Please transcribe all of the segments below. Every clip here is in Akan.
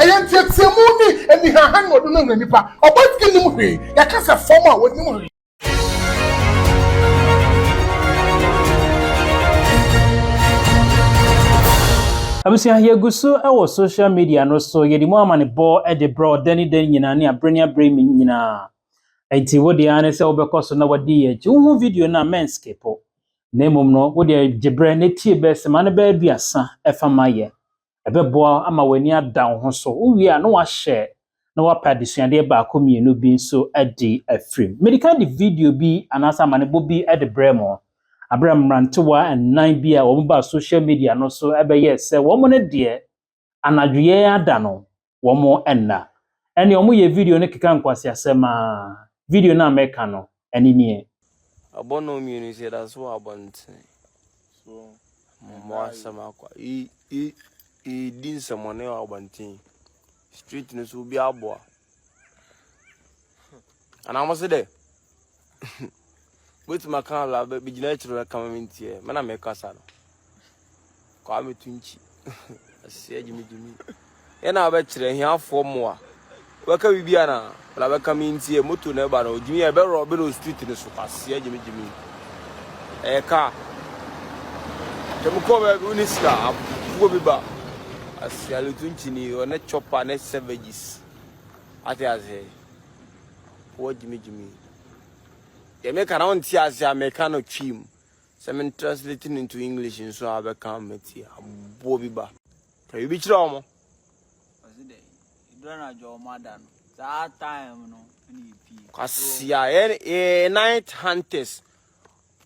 Ɛyɛ nteɛteɛmu ne anihaha na ɔde no hwɛ nnipa. Ɔba ti nnim hwee. Yɛka sɛ fam a, ɔnnim hwee. Abusua, yɛgu so wɔ social media no so, yɛde mu amanebɔ de brɛ wo da ne da nyinaa ne abere ne abere nyinaa. Enti wo deɛ ne sɛ wobɛkɔ so na wadi yɛn akyi. Wohu video no a, mɛnskipo. Na mmom no, wo deɛ gye berɛ na tie bɛsɛm ano bɛyɛ aduasa fa ma yɛn. ɛbɛboa wo ama w'ani ada wo ho so. Wowie a, na wahyɛ na wapɛ adesuadeɛ baako mmienu bi nso adi afiri mu. Mede kan de video bi anaasɛ amanebɔ bi de brɛɛ mo aberɛ a mmerantewa nnan bi a wɔbaa social media no so bɛyɛɛ sɛ wɔn no deɛ anadwoeɛ ada no wɔn nna. Ɛnneɛ wɔyɛ video no keka nkwaseasɛm ara. Video no a meka no, ɛno nie. Abɔ nnɔn mmienu nso yɛda so wɔ abɔntene. Mmɔ asɛm akwa. Yɛdi nsɛmɔne wɔ abɔnten. Street no so obi aboa. Anaa mo se dɛ? Wobɛtumi aka ala bɛgyina akyiri no kama me ntiɛ me na mekasa no kwaa meto nkyi aseɛ gyimigyimi yɛ na wobɛkyerɛ ahiafoɔ mmoa wobɛka biribi ana bla bɛka me ntiɛ moto na ɛba no ɔgyimi yɛ bɛrɔ ɔbɛ no street no so aseɛ gyimigyimi ɛyɛ kaa kyɛ mekɔ baabi wo ne sika afuo bi ba aseɛ meto nkyi ni ɔne chopper ne savages ate aseɛ Wɔ gyimi gyimi. Deɛ meka na wonte ase a meka no twim. Sɛ me translate no into English nso a bɛka mɛti aboɔ bi ba. Ka biribi kyerɛ wɔn. Ɔsi dɛ, edura na adwa wɔn ada no. Saa time no ɛna yɛpie. Kwasia, yɛ night hunters.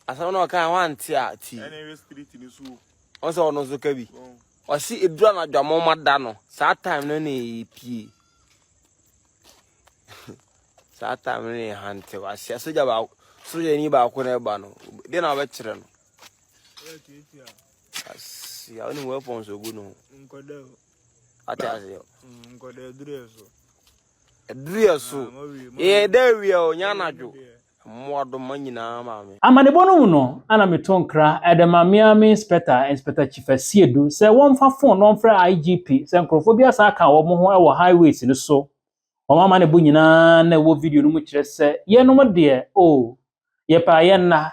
Asɛm no ɔka wante a ti. Ɛna ɛwɛ street no so. Ɔsɛ ɔno nso ka bi. Ɔsi edura na adwa wɔn ada no. Saa time no ɛna yɛpie. Saa time no yɛ hante wahyia sogya baako sogyani baako na ɛba no de na ɔbɛkyerɛ no. Asi awo ni weapons ogu no. Nkɔdɛ o. Ate aseɛ. Mm, nkɔdɛ aduru yɛ so. Aduru yɛ so. Ah, yɛ dɛ awia o nya anadwo. Mmoadoma nyinaa maame. Amanebɔ no mu no, ana meto nkra de ma Miami Inspector, Inspector Chief Asiedu, sɛ wɔmfa phone na wɔmfrɛ IGP sɛ nkurɔfoɔ bi asan aka wɔn ho wɔ highways no so. Wɔn amanebɔ nyinaa na ɛwɔ video no mu kyerɛ sɛ, Yɛnom deɛ, oh, yɛpɛ a yɛnna,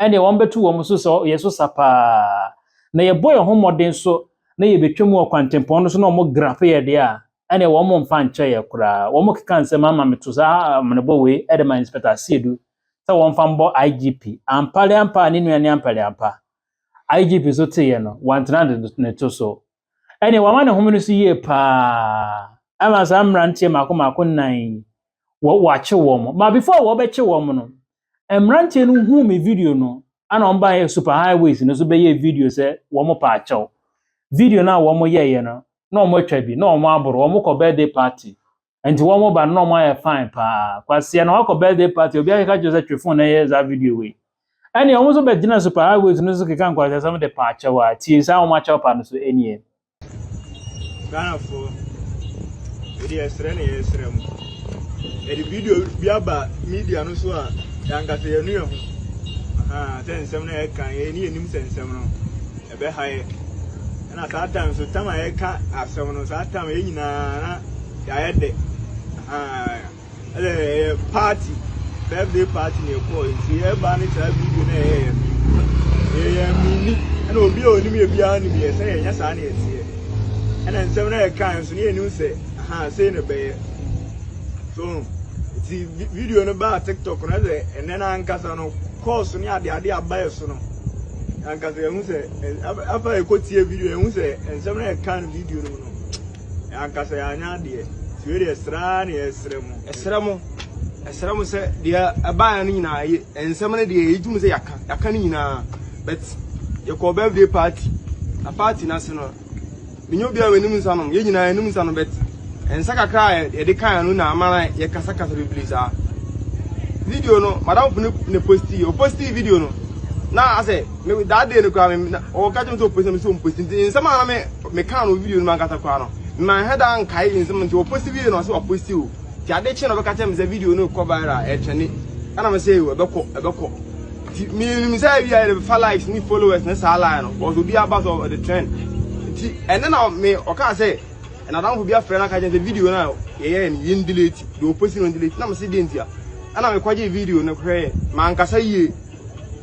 ɛnneɛ wɔbɛto wɔn so sɛ yɛ so sa paa. Na yɛbɔ yɛn ho mmɔden so na yɛbɛtwa mu wɔ kwantempɔn no so na wɔgrape yɛn deɛ a, ɛnneɛ wɔmfa nkyɛ yɛn koraa. Wɔkeka nsɛm ama meto saa amanebɔ wei de ma Inspector Asiedu sɛ wɔmfa mbɔ IGP. Ampare ampa, ne nua ne ampare ampa. IGP nso teeɛ no, wantena ne to so. ɛnneɛ wama ne home no so yie paa ama saa mmeranteɛ mako mako nnan yi wɔ wɔakye wɔn ma before wɔbɛkye wɔn no mmeranteɛ no huu me video no ana wɔn baeɛ super highways no so bɛyɛ video sɛ wɔn pa akyɛw video no a wɔn yɛeɛ no na wɔn atwa bi na wɔn aboro wɔn kɔ birthday party nti wɔn ba no na wɔn ayɛ fine paa kwasia na wakɔ birthday party obi akeka kyerɛ sɛ twe phone na ɛyɛ saa video wei ɛnna wɔn nso bɛgyina super highways no so keka nkwasia sɛm de pa akyɛw a tie saa wɔn akyɛw pa no so ɛnie. ghanafoɔ ɛde ɛsrɛ na yɛsrɛ mu ɛde video bi aba media no so a yɛankasa yɛnu yɛ ho sɛ nsɛm no a yɛka yɛne yɛnim sɛ nsɛm no ɛbɛhaeɛ. Ɛna saa time so tam a yɛka asɛm no saa time yɛn nyinaa na yɛayɛ dɛ ɛdɛ ɛyɛ party birthday party na ɛkɔɔ nti yɛba ne saa video na ɛyɛ yɛn yɛyɛ mini ɛna obi a onim yɛ biara nim yɛ sɛ yɛnyɛ saa na yɛteɛ ɛna nsɛm na yɛka nso ne yɛnim sɛ aha sei na ɛbɛyɛ so nti video no baa tiktok no ɛdɛ ɛnɛ no ankasa no kɔɔso ne adeade abayɛ so no ankasa yɛhu sɛ afa yɛkɔtie video yɛhu sɛ nsɛm no yɛka no video no mu no ankasa yɛanyɛ adeɛ nti wei deɛ sraa ne yɛsrɛ mo ɛsrɛ mo ɛsrɛ mo sɛ deɛ ɛbaeɛ no nyinaa yɛ nsɛm no deɛ yɛgye mu sɛ yɛaka yɛaka no nyinaa but yɛkɔɔ birthday party na party no ase no Menyɛ obi a wanom nsa nom. Yɛn nyinaa yɛnom nsa nom, but nsa kakra a yɛde kan no na ama na yɛkasakasa bebree saa. Video no, madamfo no na posti, ɔposti video no. Na asɛ, me that day no koraa me na ɔka kyerɛ me sɛ ɔposti na me sɛ ɔmposti nti nsɛm a na me me kan no video no mankasa koraa no. Manhwɛ da nkae nsɛm nti ɔposti video no ɔsɛ waposti o. Nti ade kye na ɔbɛka kyerɛ me sɛ video no kɔ viral ɛtwɛne. Ɛna me sɛ ɛbɛkɔ ɛbɛkɔ. Ti mi nim sɛ ebi ayɛ de fa likes ni followers ne saa line no wɔsɔ obi aba sɔ ɔde trend ti ɛne na mi ɔka sɛ ɛnadamfo bi afrɛ na ka kyɛn sɛ video na yɛyɛ no yɛn delete de oposi no delete na mi si de ntia ɛna mi kɔgye video no hwɛ yɛ ma nkasa yie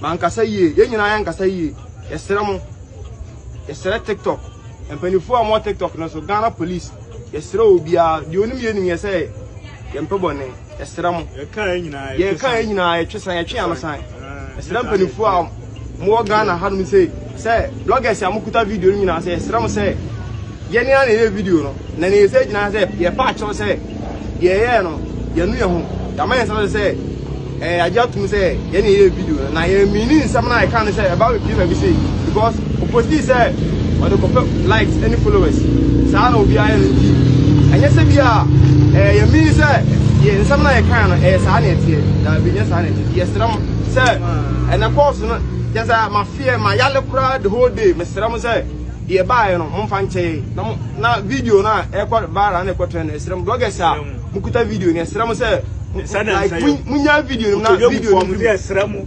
ma nkasa yie yɛn nyinaa yɛn nkasa yie yɛsrɛ mo yɛsrɛ tiktok mpanimfoɔ a wɔn tiktok no so ghana police yɛsrɛ obiara deɛ onim yɛ nim yɛ sɛ yɛn mpɛ bɔ ne. Ɛsrɛ mo. Yɛka yɛ nyinaa yɛtwe san. Yɛka yɛ nyinaa yɛtwe san yɛtwe ano san. Ɛsrɛ mpanyinfoɔ a mo wɔ Ghana hanom sɛ sɛ bloggers a mo kuta video no nyinaa sɛ ɛsrɛ mo sɛ yɛn ni a na yɛ video no na na yɛ sɛ gyina sɛ yɛ pa akyɛw sɛ yɛ yɛ no yɛn nu yɛ ho yɛama yɛn nsa sɛ ɛɛ agye atum sɛ yɛn na yɛ video no na yɛ mini nsɛm na yɛka no sɛ ɛba bɛ pie baabi sɛ because. Ɔpostii sɛ ɔde kɔpɛ likes ne followers, saa na obiara yɛ no nti ɛnyɛ sɛ bi a ɛɛ yɛ mean sɛ yɛ nsɛm na yɛ kan no ɛyɛ saa na ɛteɛ, daabi nyɛ saa na ɛteɛ nti yɛ srɛ mo sɛ ɛnɛ course no kyɛ sɛ ma feɛ ma yale koraa the whole day me srɛ mo sɛ deɛ baayɛ no mo mfa nkyɛ yɛ na mo na video no a ɛkɔ baara na ɛkɔ trend no ɛsrɛ mo bloggers a mo kuta video no ɛsrɛ mo sɛ like mo nya video no na video no ɛsrɛ mo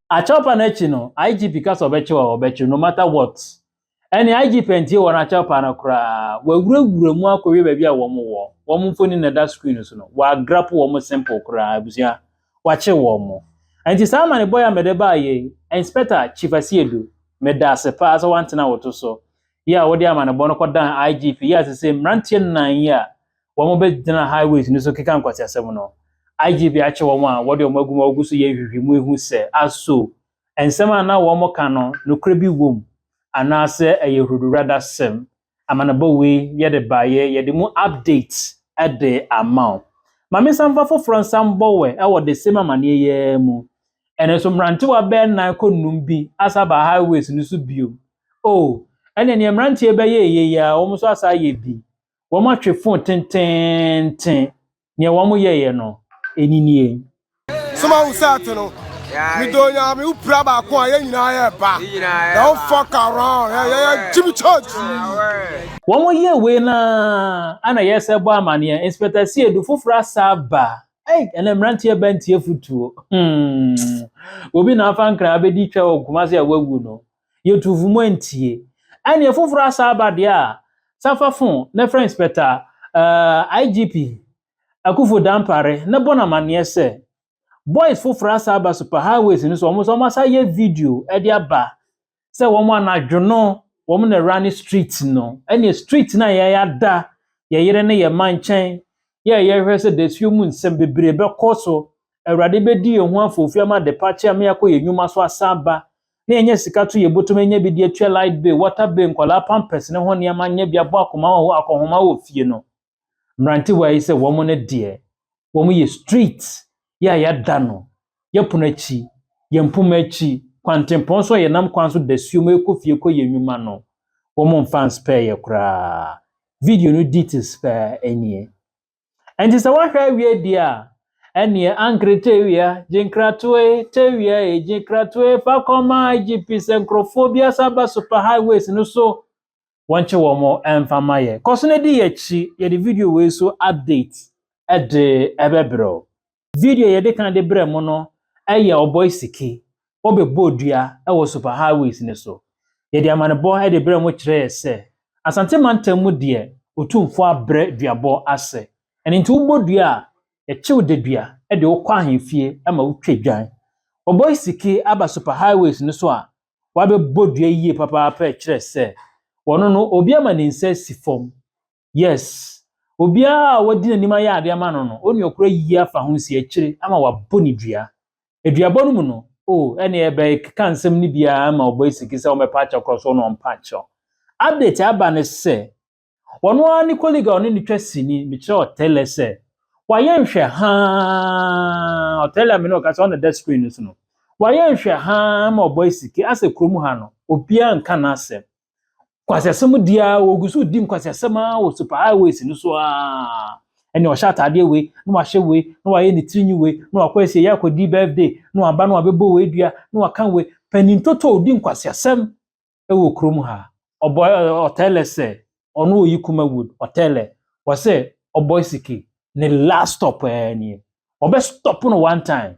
Akyɛwpa no akyi no, IGP ka sɛ ɔbɛkyɛw a, ɔbɛkyɛw no matter what. Ɛne IGP antie wɔn akyɛwpa no koraa. Wɔawurawura mu akɔwie baabi a wɔn wɔ. Wɔn mfoni na ɛda screen no so no, wɔagrapo wɔn simple koraa, abusua. Wɔakye wɔn. Ɛnti saa amanebɔ yi a mede baa yei, Inspector Chief Asiedu, meda ase paa sɛ woantena wo to so. Yɛ a wode amanebɔ no kɔdan IGP, yɛ a sesei mmeranteɛ nnan yi a wɔbɛgyina highways no so keka nkwaseasɛm no. IGP akyere wɔn a wɔde wɔn agu mu a wɔgu so yɛ nhwehwɛmu ahu sɛ a so nsɛm a na wɔka no nokorɛ bi wom anaasɛ ɛyɛ huruduradasɛm. Amanebɔ wei yɛde baeɛ, yɛde mu update de ama wo. Ma mensan mfa foforɔ nsan mmɔ wɛ wɔ the same amanneɛ yi ara mu. Ɛno nso mmerantewa bɛyɛ nnan kɔ nnum bi asa aba highways no so bio. Oh, ɛnna nea mmeranteɛ bɛyɛ eye yi ara, wɔn nso asa ayɛ bi. wɔatwe fo tenteenten. Nea wɔyɛeɛ no, ɛni nie. Soma wo sɛ to no. Medɔ nyame wo pira baako a yɛ nyinaa yɛ ba. Don't fuck around. Hey, yɛ yɛ Jimmy Church. Wɔn yɛ wei no ara na yɛ sɛ bɔ amaneɛ inspector sie du foforɔ asa aba ei ɛnɛ mmeranteɛ ba ntie futuo hmm. obi na afa nkra abɛdi twa wɔ nkoma se a wawu no yɛtu fo mu antie. Ɛnneɛ foforɔ asan aba deɛ a Safafo ne French Inspector uh, IGP Akufo Dampare ne bɔ no amanneɛ sɛ boys foforɔ asan aba super highways no so wɔn nso wɔn asan yɛ video de aba sɛ wɔn anadwo no wɔn na ɛwura ne street no ɛnneɛ street no a yɛada yɛyere ne yɛ ma nkyɛn yɛ yɛhwɛ sɛ dasuo mu nsɛm bebree bɛkɔ so awurade bɛdi yɛn ho afoofi ama de pa kyɛ ama yɛakɔ yɛn nnwuma so asan aba na yɛnya sika to yɛbotumi anya bi de atua light bill, water bill, nkwadaa pampers ne ho nneɛma anya bi abɔ akoma wɔ akɔnhoma wɔ fie no. Mmerantewa yi sɛ wɔn no deɛ, wɔn yɛ street yɛ a yɛada no, yɛ pono akyi, yɛ mpoma akyi, kwantempɔn so a yɛnam kwan so da suo mu rekɔ fie kɔ yɛ nnwuma no, wɔn mfa nspɛɛ yɛ koraa. Video no details paa nie. Ɛnti sɛ woahwɛ awie di a, ɛneɛ ankere tewia, gyenkratoe, tewia e, gyenkratoe, fa kɔma IGP sɛ nkurɔfoɔ bi asa ba super highways no so, wɔnkye wɔn ɛmfa ma yɛ. Kɔ so na di yɛakyi, yɛde video wei so update ɛde ɛbɛbrɛ wo. Video a yɛde kan de brɛɛ mo no yɛ Ɔbɔe Siki, Ɔbɛbɔɔ Dua wɔ Super Highways no so. Yɛde amanebɔ de brɛɛ mo kyerɛɛ sɛ Asante mantam mu deɛ Otumfoɔ abrɛ duabɔ ase. Ɛno nti wobɔ dua a, yɛkyew dadua de wo kɔ ahemfie ma wotwa dwan. Ɔbɔe Siki aba Super Highways no so a, wabɛbɔ dua yie papaapa kyerɛ sɛ ɔno no obi ama ne nsa asi fam. Yes, obiara a wadi n'anim ayɛ ade ama no no, onua koro ayiyi afa ho asi akyire ama wɔabɔ no dua. Aduabɔ no mu no, o, ɛnneɛ ɛbɛkeka nsɛm no bi ara ma ɔbɔ asiki sɛ ɔmmɛpa akyɛ korɔ so na ɔmpa akyɛw. Update a aba ne sɛ, ɔno ara ne colleague a ɔne no twa sini, mekyerɛ Otele sɛ, wayɛ nhwɛhaa, Otele amene ɔka sɛ ɔna da screen no so no, wayɛ nhwɛhaa ma ɔbɔ asiki asɛ kurom ha no, obiara nka n'asɛm. Kwasiasɛm di ara wɔgu so di nkwasiasɛm ara wɔ super highways no so ara. Ɛnna ɔhyɛ ataadeɛ wei na wahyɛ wei na wayɛ ne tiri nwi wei na wakɔ asie yɛ akɔdi birthday na waba na wabɛbɔ wei dua na waka wei. Panin totoo di nkwasiasɛm wɔ kurom ha. Ɔbɔ ɔtɛlɛ sɛ ɔno ɔyi kuma wood ɔtɛlɛ wɔ sɛ ɔbɔ siki ne last stop ɛɛ nie. Ɔbɛ stop no one time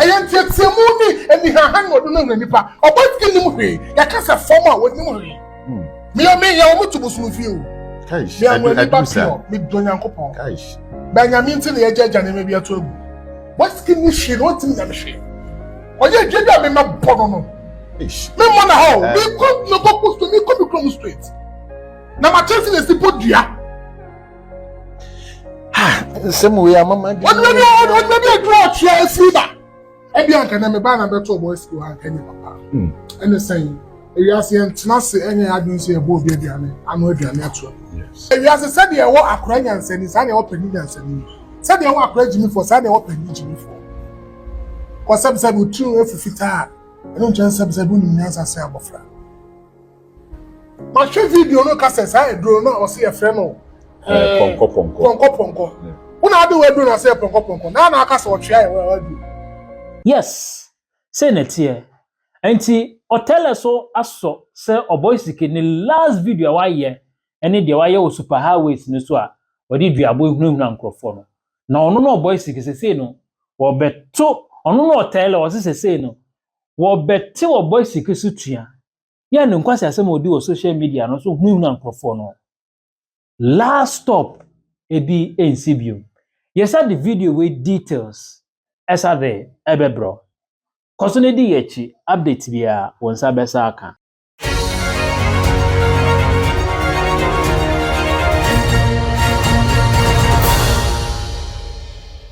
Ɛyɛ nteɛteɛmu ne anihaha na ɔde no ahura nnipa. Ɔbɔ adwene nnim hwee. Yɛka sɛ fam a, wɔnnim hwee. Hmm. Meyɛ meyɛ wɔn to bosono fie o. Me anwa ni ba pure. Medɔ Nyankopɔn. Bɛn nyame nti na yɛgya agya nneɛma bi ato agu. Wɔsiki ni hwee na ɔntumi nyame hwee. Ɔyɛ adwuma bi a mema bɔ no no. Memmɔ na ha o. Eh. Mekɔ mekɔ kɔ straight. Mekɔ me kurom straight. Na makyɛ si na esi bɔ dua. nsɛm wei ama ma de. ɔdun ni ɔdun ni edu ɔtua efi ba ebi anka na meba na bɛtɔ ɔbɔ efi hɔ anka nye papa ɛne sɛn ewiase yɛn tena ase ɛnyɛ adun sɛ yɛbɔ obi aduane ano aduane ato ewiase sɛdeɛ ɛwɔ akora nyansani saa na ɛwɔ panyin nyansani sɛdeɛ ɛwɔ akora gyimifo saa na ɛwɔ panyin gyimifo kɔsɛbisɛbi otiri efu fitaa ɛno nkyɛn sɛbisɛbi onim nyansa sɛ abɔfra. mahwɛ video no ka sɛ saa aduro no a ɔsɛ yɛfrɛ no pɔnkɔpɔnkɔ pɔnkɔpɔnkɔ wo na ade wɔ aduro no ɔsɛ yɛ pɔnkɔpɔnkɔ na na aka sɛ ɔtwea yɛ wɔ aduro yes sɛ na ɛteɛ nti ɔtɛlɛ so asɔ sɛ ɔbɔ sike ne last video a wayɛ ɛne deɛ wayɛ wɔ super highways no so a wɔde duabɔ ehunahuna nkurɔfoɔ no na ɔno na ɔbɔ sike sesei no wɔbɛto ɔno na ɔtɛlɛ ɔse sesei no wɔbɛte ɔbɔ sike so tua yɛ ne nkwaseasɛm a ɔdi wɔ social media no so hunahuna nkurɔfoɔ no. Last stop ebi nsi bio. Yɛsa de video wei details ɛsa de ɛbɛbrɛ. Kɔ so na di yɛ akyi update biara wo nsa bɛsa aka.